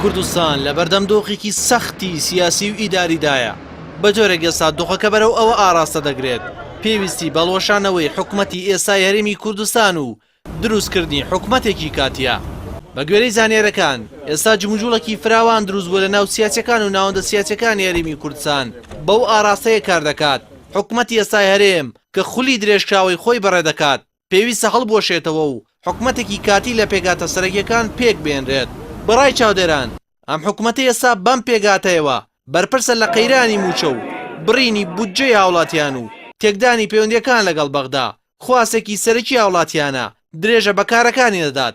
کوردستان لە بەردەم دۆخێکی سەختی سیاسی و ئیداریدایە، بە جۆرێک ئێستا دۆخەکە بەرەو ئەوە ئاڕاستە دەگرێت پێویستی بە ڵۆشانەوەی حکومەتی ئێستای هەرێمی کوردستان و دروستکردنی حکومەتێکی کاتییە. بە گوێرەی زانیارییەکان، ئێستا جموجوڵێکی فراوان دروست بووە لە ناو سیاسییەکان و ناوەندە سیاسییەکانی هەرێمی کوردستان بەو ئاڕاستەیە کار دەکات حکومەتی ئێستای هەرێم کە خولی درێژکراوەی خۆی بەڕێ دەکات، پێویستە هەڵبوەشێتەوە و حکومەتێکی کاتی لە پێگاتە سەرەکیەکان پێک بێنرێت. بە ڕای چاودێران ئەم حکومەتەی ئێستا بەم پێگاتەیەوە بەرپرسە لە قەیرانی موچە و بڕینی بودجەی هاوڵاتیان و تێکدانی پەیوەندیەکان لەگەڵ بەغدا، خواستێکی سەرەکی هاوڵاتیانە درێژە بە کارەکانی دەدات.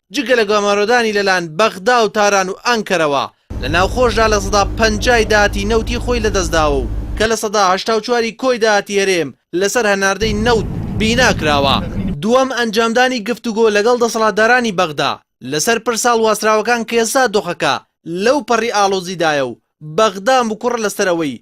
جگە لە گەمارۆدانی لەلایەن بەغدا و تاران و ئەنکەرەوە، لە ناوخۆشدا لە سەدا پەنجای داهاتی نەوتی خۆی لەدەستداوە و کە لە سەدا هەشتا و چواری کۆی داهاتی هەرێم لەسەر هەناردەی نەوت بینا کراوە. دووەم، ئەنجامدانی گفتوگۆ لەگەڵ دەسەڵاتدارانی بەغدا لەسەر پرسە هەڵواسراوەکان کە ئێستا دۆخەکە لەو پەڕی ئاڵۆزیدایە و بەغدا مکوڕە لەسەر ئەوەی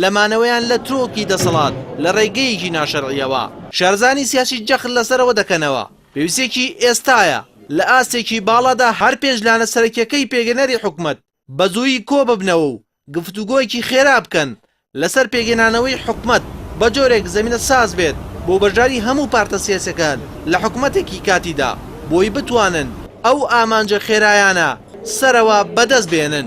لە مانەوەیان لە ترۆکی دەسەڵات لە ڕێگەیەکی ناشەرعییەوە. شارەزایانی سیاسی جەخت لەسەر ئەوە دەکەنەوە، پێویستییەکی ئێستایە لە ئاستێکی باڵادا هەر پێنج لانە سەرەکییەکەی پێگەنەری حکومەت بە زوویی کۆببنەوە و گفتوگۆیەکی خێرا بکەن لەسەر پێکهێنانەوەی حکومەت بە جۆرێک زەمینە ساز بێت بۆ بەشداری هەموو پارتە سیاسییەکان لە حکومەتێکی کاتیدا بۆی بتوانن ئەو ئامانجە خێرایانە سەرەوە بەدەست بێنن.